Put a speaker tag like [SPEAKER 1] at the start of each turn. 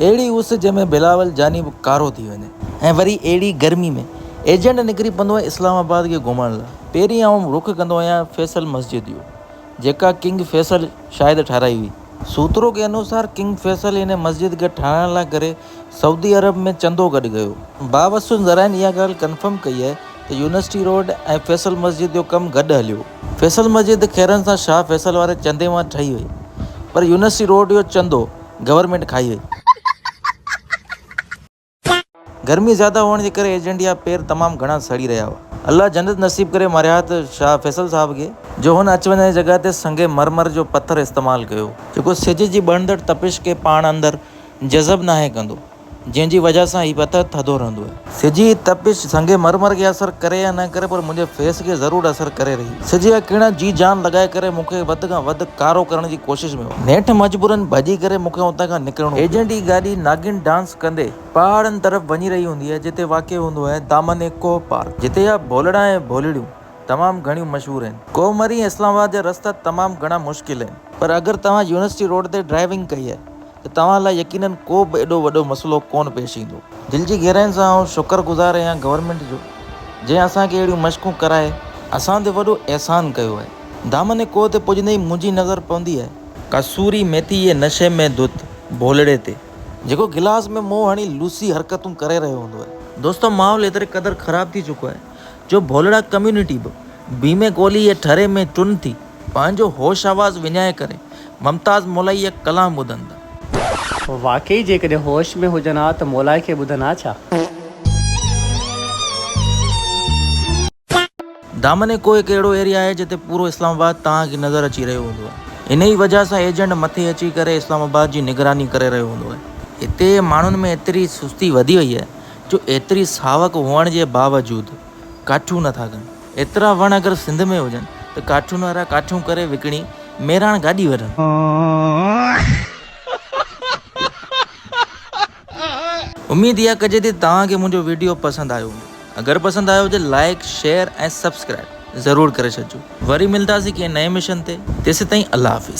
[SPEAKER 1] اهڙي اس جنهن ۾ بلاول جاني به ڪارو ٿي وڃي. ۽ وري اهڙي گرمي ۾. ايجنٽ نڪري پوندو آهي اسلام آباد کي گهمڻ لاء. پهرين آئون رخ ڪندو آهيان فيصل مسجد جو. جيڪا ڪنگ فيصل شايد ٺاهرائي هئي. سوترو کي انوسار ڪنگ فيصل هن مسجد کي ٺاهرائڻ لاء ڪري سعودي عرب ۾ چندو گڏ ڪيو. باوسون ذرائعن اها ڳالهه ڪنفرم ڪئي آهي ته يونيورسٽي روڊ ۽ فيصل مسجد جو ڪم گڏ هليو. فيصل مسجد خيرن سان شاهه فيصل واري چندي مان ٺهي وئي. پر يونيورسٽي روڊ جو چندو. گورنمينٽ کائي وئي. گرمي زياده هئڻ جي ڪري ايجنٽ يا پير تمام گهڻا سڙي رهيا هئا. الله جنت نصيب ڪري مارياهت شاهه فيصل صاحب کي جو هن اچ وڃ جي جڳهه تي سنگ مرمر جو پٿر استعمال ڪيو. جيڪو سج جي ٻرندڙ تپش کي پاڻ اندر جذب ناهي ڪندو. جنهن جي وجهه سان هي پٿر ٿڌو رهندو آهي. سج جي تپش سنگ مرمر کي اثر ڪري يا نه ڪري پر منهنجي فيس کي ضرور اثر ڪري رهي. سج جا ڪرڻ جي جان لڳائي ڪري مون کي وڌ کان وڌ ڪارو ڪرڻ جي ڪوشش ۾ هو. نيٺ مجبوراً ڀڄي ڪري مون کي اتان کان نڪرڻو پيو. ايجنٽ جي گاڏي ناگن ڊانس ڪندي پهاڙن طرف وڃي رهي هوندي آهي جتي واقع هوندو آهي دامن ايڪو پارڪ جتي جا ڀولڙا ۽ ڀولڙيون تمام گهڻيون مشهور آهن. ڪوهمري ۽ اسلام آباد جا رستا تمام گهڻا مشڪل آهن. پر اگر توهان يونيورسٽي روڊ تي ڊرائيونگ ڪئي آهي ته توهان لاء يقينن ڪو به ايڏو وڏو مسئلو ڪونه پيش ايندو. دل جي گهراين سان آئون شڪر گذار اهيان گورنمينٽ جو جنهن اسان کي اهڙيون مشقون ڪرائي اسان تي وڏو احسان ڪيو آهي. دامن ڪوهه تي پڄندي ئي منهنجي نظر پوندي آهي. ڪسوري ميٿي جي نشي ۾ ڌت ڀولڙي تي. جيڪو گلاس ۾ منهن هڻي لوسي حرڪتون ڪري رهيو هوندو آهي. دوستو ماحول ايتري قدر خراب ٿي چڪو آهي جو ڀولڙا ڪميونٽي به بيمي گولي يا ٺري ۾ چن ٿي پنهنجو هوش آواز وڃائي ڪري ممتاز مولائي يا ڪلام ٻڌن ٿا. واقعي
[SPEAKER 2] جيڪڏهن هوش ۾ هجن ها ته مولائي کي ٻڌن ها ڇا؟
[SPEAKER 1] دامن ڪوهه هڪ اهڙو ايريا آهي جتي پورو اسلام آباد توهان کي نظر اچي رهيو هوندو آهي انهي وجهه سان ايجنٽ مٿي اچي ڪري اسلام آباد جي نگراني ڪري رهيو هوندو آهي هتي ماڻهن ۾ ايتري سستي وڌي وئي آهي جو ايتري ساوڪ هئڻ جي باوجود ڪاٺيون نه ٿا ڪن. ايترا وڻ اگر سنڌ ۾ هجن ته ڪاٺين وارا ڪاٺيون ڪري وڪڻي ميراڻ گاڏي ورن. اميد اها ڪجي ٿي توهان کي منهنجو ويڊيو پسند آيو هوندو. اگر پسند آيو هجي لائيڪ شيئر ۽ سبسڪرائيب ضرور ڪري ڇڏجو. وري ملنداسين ڪنهن نئين مشن تي تيسيتائين الله حافظ.